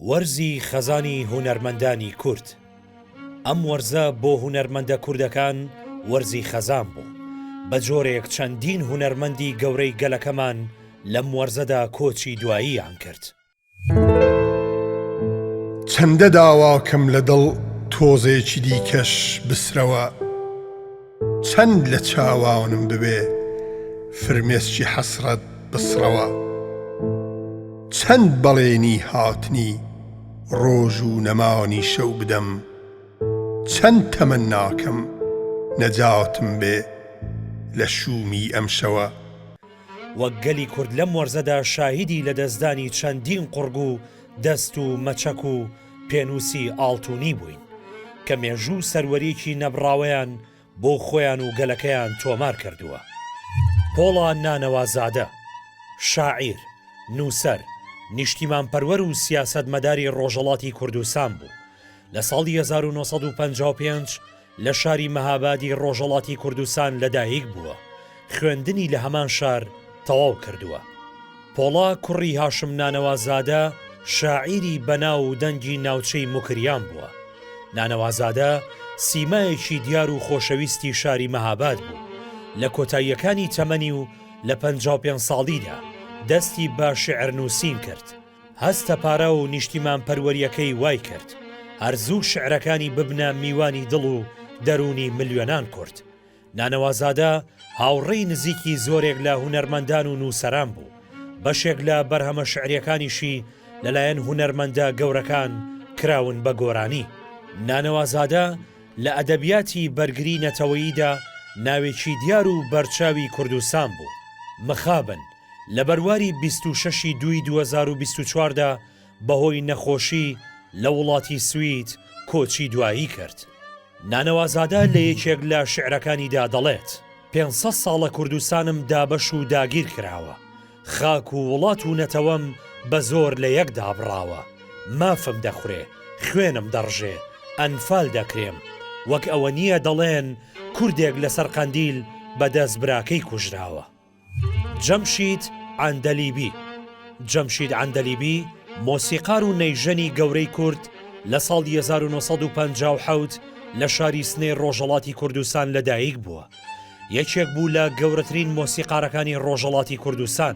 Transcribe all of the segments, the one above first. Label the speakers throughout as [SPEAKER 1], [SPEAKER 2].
[SPEAKER 1] وەرزی خەزانی هونەرمەندانی کورد ئەم وەرزە بۆ هونەرمەندە کوردەکان وەرزی خەزان بوو، بە جۆرێک چەندین هونەرمەندی گەورەی گەلەکەمان لەم وەرزەدا کۆچی دواییان کرد.
[SPEAKER 2] چەندە داواکەم لە دڵ تۆزێکی دیکەش بسرەوە. چەند لە چاوانم ببێ فرمێسکی حەسرەت بسڕەوە چەند بەڵێنی هاتنی ڕۆژ و نەمانی شەو بدەم چەند تەمەناکەم نەجاتم بێ لە شوومی ئەم شەوە. وەک
[SPEAKER 1] گەلی کورد لەم وەرزەدا شاهیدی لەدەستدانی چەندین قوڕگ و دەست و مەچەک و، پێنووسی ئاڵتوونی بووین، کە مێژوو و سەروەریی نەبڕاوەیان بۆ خۆیان و گەلەکەیان تۆمار کردووە. پۆڵا نانەوازادە، شاعیر، نووسەر، نیشتیمانپەروەر و سیاسەتمەداری ڕۆژهەڵاتی کوردستان بوو، لە ساڵی هەزار و نۆ سەد و پەنجا و پێنج لە شاری مەهابادی ڕۆژەڵاتی کوردستان لەدایک بووە، خوێندنی لە هەمان شار تەواو کردووە. پۆڵا کوڕی هاشم نانەوازادە شاعیری بەناو و دەنگی ناوچەی موکریان بووە. نانەوازادە سیمایەکی دیار و خۆشەویستی شاری مەهاباد بوو. لە کۆتاییەکانی تەمەنی و لە پەنجا و پێنج ساڵیدا دەستی بە شیعرنووسین کرد. هەستە پارە و نیشتیمانپەروەرییەکەی وای کرد هەر زوو شیعرەکانی ببنە میوانی دڵ و دەروونی ملیۆنان کورد. نانەوازادە هاوڕێی نزیکی زۆرێک لە هونەرمەندان و نووسەران بوو، بەشێک لە بەرهەمە شیعرییەکانیشی لەلایەن هونەرمەندە گەورەکان کراون بە گۆرانی. نانەوازادە لە ئەدەبیاتی بەرگری نەتەوەییدا ناوێکی دیار و بەرچاوی کوردستان بوو. مخابن. لە بەرواری بیست و شەش ی دووی دوو هەزار و بیست و چوار دا بەهۆی نەخۆشی لە وڵاتی سوید کۆچی دوایی کرد. نانەوازادە لە یەکێک لە شیعرەکانیدا دەڵێت، پێنج سەد ساڵە کوردستانم دابەش و داگیر کراوە، خاک و وڵات و نەتەوەم بە زۆر لە یەک دابڕاوە، مافم دەخورێ، خوێنم دەڕژێ، ئەنفال دەکرێم، وەک ئەوە نییە دەڵێن کوردێک لەسەر قەندیل بە دەست براکەی کوژراوە. جەمشید عەندەلیبی جەمشید عەندەلیبی، مۆسیقار و نەیژەنی گەورەی کورد لە ساڵی 1957 لە شاری سنەی ڕۆژەڵاتی کوردستان لەدایک بووە. یەکێک بوو لە گەورەترین مۆسیقارەکانی ڕۆژەڵاتی کوردستان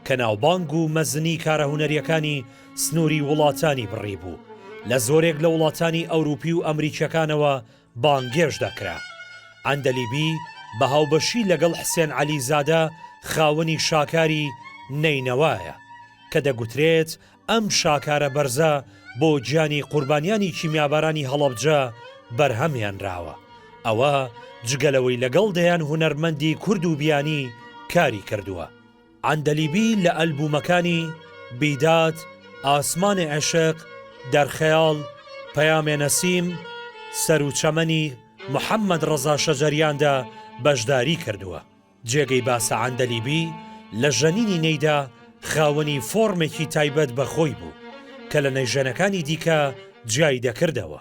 [SPEAKER 1] کە ناوبانگ و مەزنی کارە هونەریەکانی سنووری وڵاتانی بڕیبوو. لە زۆرێک لە وڵاتانی ئەوروپی و ئەمریکیەکانەوە بانگێش دەکرا. عەندەلیبی بە هاوبەشی لەگەڵ حسێن عەلیزادە خاوەنی شاکاری، نەینەوایە، کە دەگوترێت ئەم شاکارە بەرزە بۆ گیانی قوربانیانی کیمیابارانی هەڵەبجە بەرهەم هێنراوە، ئەوە جگە لەوەی لەگەڵ دەیان هونەرمەندی کورد و بیانی کاری کردووە. عەندەلیبی لە ئەلبوومەکانی، بیداد، ئاسمان عشق، در خیال، پیام نسیم، سر و چمنی محمد رضا شجریان دا بەشداریی کردووە. جێگەی باسە عەندەلیبی لە ژەنینی نێیدا خاوەنی فۆڕمێکی تایبەت بە خۆی بوو کە لە نەیژەنەکانی دیکە جیای دەکردەوە.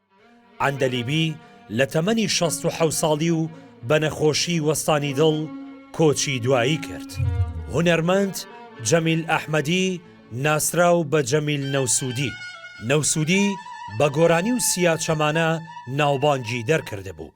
[SPEAKER 1] عەندەلیبی لە تەمەنی شەست و حەوت ساڵی و بە نەخۆشی وەستانی دڵ کۆچی دوایی کرد. هونەرمەند جەمیل ئەحمەدی ناسراو بە جەمیل نەوسودی، نەوسودی، بە گۆرانی و سیا چەمانە ناوبانگی دەرکردبوو،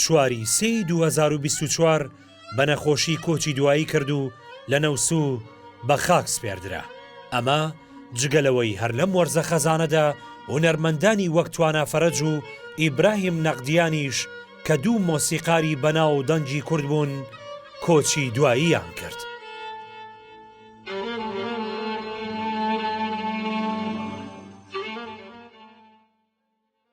[SPEAKER 1] چواری سێی دوو هەزار و بیست و چوار بە نەخۆشی کۆچی دوایی کرد و لە نەوسوو بە خاک سپێردرا ئەمە جگە لەوەی هەر لەم وەرزە خەزانەدا هونەرمەندانی وەک توانا فەرەج و ئیبراهیم نەقدیانیش کە دوو مۆسیقاری بەناو و دەنگی کورد بوون کۆچی دواییان کرد.